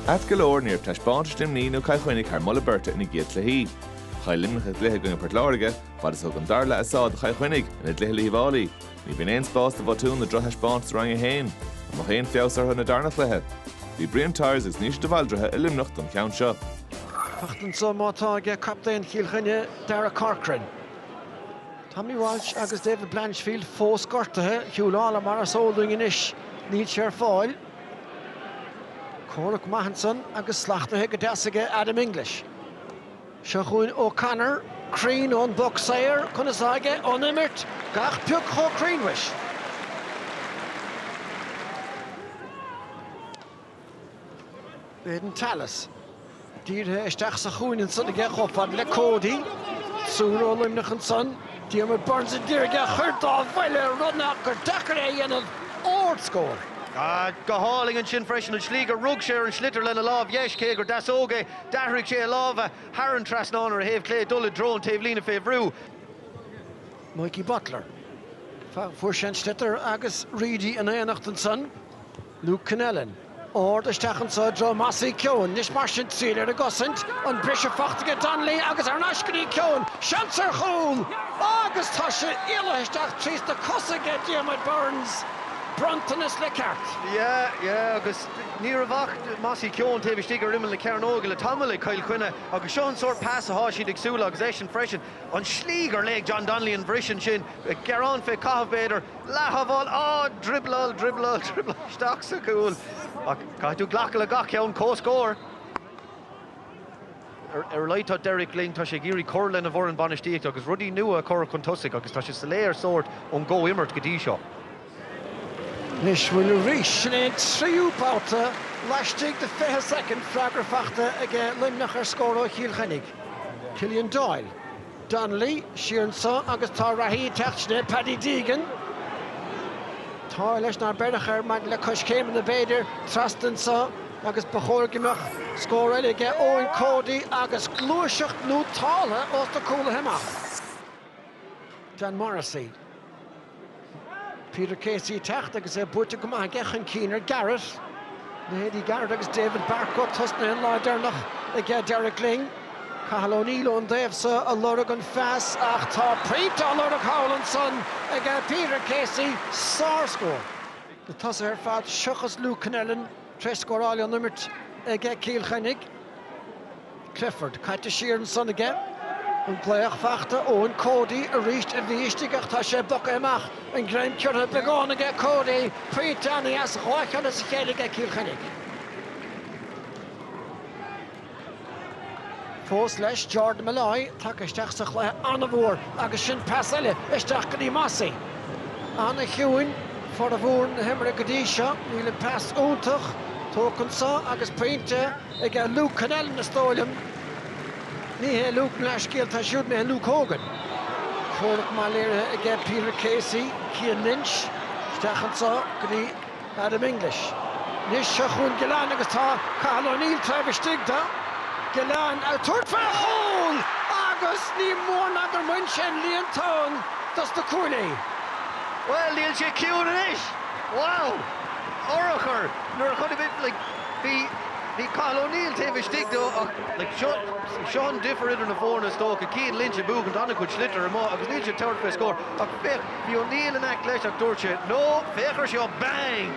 Ait go leor ní raibh taispeántais Luimnigh nó Cill Chainnigh thar moladh beirte ina gcéad cluichí. Chaill Luimneach a gcluiche i gcoinne Port Láirge, fad is thug an dara leath a sáith do Chill Chainnigh ina gcluiche le hUíbh Fhailí. Ní bhíonn aon spás do bhotúin nó drochthaispeántais i Roinn 1. An mbeadh aon feabhas orthu ina dtarna chluiche? Bhí Brian Tyers agus Naoise de Bhaldraithe i Luimneach don cheann seo. Faighte anso má tá ag captaen Chill Chainnigh, Darragh Corcoran. Tommy Walsh agus David Blanchfield fós gortaithe. Huw Lawlor mar is eol dúinn anois níl sé ar fáil. Comhrac maith ansan agus slachtaithe go deas aige Adam English. Seo chugainn O'Connor, cruinn ón bpoc saor, conas atá aige ón imirt? Gach pioc chomh cruinn mhuis. Aidan Tallis. Dírithe isteach sa chúinne ansan aige chomh fada le Cody. Triúr ó Luimneach ansan. Diarmaid Byrnes a d'iarraidh é a chur dá bhuille ar ndóigh ach gur deacair é a dhéanamh. Ard scór. Go hálainn ansin freisin an slí gur rug sé ar an sliotar lena lámh dheis cé gur deasóg é. D'athraigh sé a lámha thar an trasnán ar a thaobh clé ag dul i dtreo an taobhlíne fé bhrú. Mikey Butler. Fuair sé an sliotar agus Reidy in éineacht ansan. Luke Connellan, ard isteach anseo i dtreo Mossy Keoghan, anois mar sin triail ar an gcosaint, an briseadh faighte aige Donnelly agus thar n-ais go dtí Keoghan, seans ar chúl! Agus tá sé éalaithe isteach trís na cosa aige Diarmaid Byrnes, bronntanas le ceart. Yeah, yeah agus ní raibh ach Mossy Keoghan taobh istigh ar imeall na cearnóige le tamall ag Cill Chainnigh agus seo an sórt pas atá siad ag súil le agus eisean freisin. An slí gur léigh John Donnelly an bhriseadh ansin, ag gearán fé chaitheamh b'fhéidir, Leath-shábháil, Á! Driobláil, driobláil, driobláil isteach sa chúl. Ach caithfidh tú glacadh le gach ceann. Comhscór! Ar a laghad tá Derek Lyng, tá sé ag iarraidh cur lena bhfoireann bainistíochta agus rudaí nua a chur chun tosaigh agus tá sé soiléir sórt ón gcomhimirt go dtí seo. Anois bhuel arís. Sin é an tríú babhta laistigh de 20 soicind. Freagra faighte aige Luimneach ar scór ó Chill Chainnigh. Killian Doyle. Donnelly, siar anso agus tá reathaí ag teacht, sin é Paddy Deegan. An t-ádh leis nár beireadh air maidir le coiscéimeanna b'fhéidir, trasna anso agus ba chóir go mbeadh scór eile aige Eoin Cody agus gluaiseacht nótáltha ós na cúlaithe amach. Dan Morrissey. Peter Casey ag teacht agus é buaite go maith aige chun cinn ar Garrett. Leithéidí Garrett agus David Barcoe tosnaithe an lá deireanach ag Derek Lyng. Cathal O'Neill ón dtaobh so ag lorg an phas ach tá pointe á lorg thall ansan ag Peter Casey. Sár-scór. Na tosaithe ar fad seochas Luke Connellan. Tréis scóráil ón imirt aige Cill Chainnigh. Clifford caite siar ansan aige. An bhreith fachta Eoin Cody arís a bhí istigh ach tá sé bogtha amach. An greim curtha beagán aige Cody. Pointe an-dheas dhá cheann as a chéile aige Cill Chainnigh. Fós leis, Jordan Molloy tagtha isteach sa chluiche ana-mhór agus sin pas eile isteach go dtí Mossy. Ana-chiúin formhór na himeartha go dtí seo, níl an pas iontach tógtha anso agus pointe aige Luke Connellan is dóigh liom. Ní hé Luke mo leithscéal tá súil mé Luke Hogan. Comhrac maith léirithe aige Peter Casey, Cian Lynch isteach anso go dtí. Adam English. Anois seo chugainn Gillane agus tá Cathal O'Neill taobh istigh de. Gillane ag tabhairt fé chúl agus ní mór ná gur bhain sé an líontán dos na cúilí. Bhuel níl sé ciúin anois. Wow! Urchar nuair a chonaic mé like bhí bhí Cathal O'Neill taobh istigh do ach like seo seo an difir idir na foirne is dócha. Cian Lynch ag buachan, tá ana-chuid sliotar amuigh agus níl sé ag tabhairt fé scór ach féach Bhí O'Neill in aice leis ach dúirt sé, No, féach ar seo! Bang!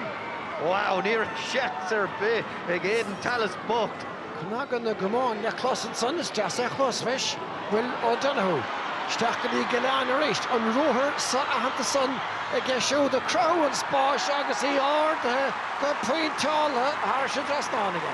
Wow, ní raibh seans ar bith ag Aidan Tallis bocht! Cnagadh na gcamán le clos ansan, is deas é a chlos, mhuis! Will O'Donoghue. Isteach go dtí Gillane arís. An ruathar so-aitheanta san aige siúd ag cruthú an spáis agus í ardaithe go pointeáilte thairis an dtrasnán aige.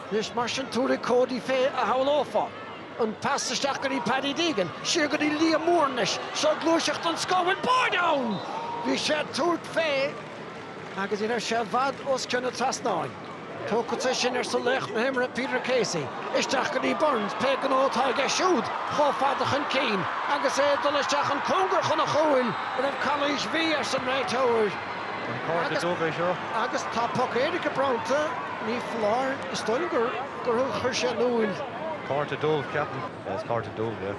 Anois mar sin tabharfaidh Cody fé a shamhlófá an pas isteach go dtí Paddy Deegan, siar go dtí Liam Moore anois, seo gluaiseacht den scoth, bhfuil báire ann! Bhí sé ag tabhairt fé agus ní raibh sé i bhfad os cionn an trasnáin. Tógfadsa é sin, arsa laoch na himeartha Peter Casey. Isteach go dtí Burns, pé gnó atá aige siúd, chomh fada chun cinn agus é ag dul isteach an cóngar chun a chúil. An raibh calaois, bhí, arsa an réiteoir. An cárta dubh é seo? Agus tá poc éirice bronnta. Ní foláir. Is dóigh liom gur chuir sé in iúl. Cárta dubh, ceapaim. Is cárta dubh é.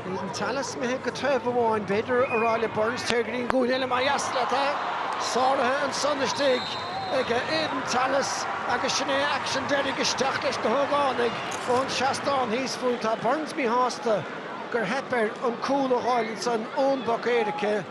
Bhí Tallis imithe go taobh amháin. B'fhéidir ag rá le Burns, téir go dtí an gcúinne eile más deas leat. Tá sáraithe ansan istigh ag Aidan Tallis agus sin é aicsean deiridh isteach leis na hógánaigh ón seastán thíos fúinn. Tá Burns míshásta gur theip air an cúl a dh'fháil ansan ón bpoc éirice.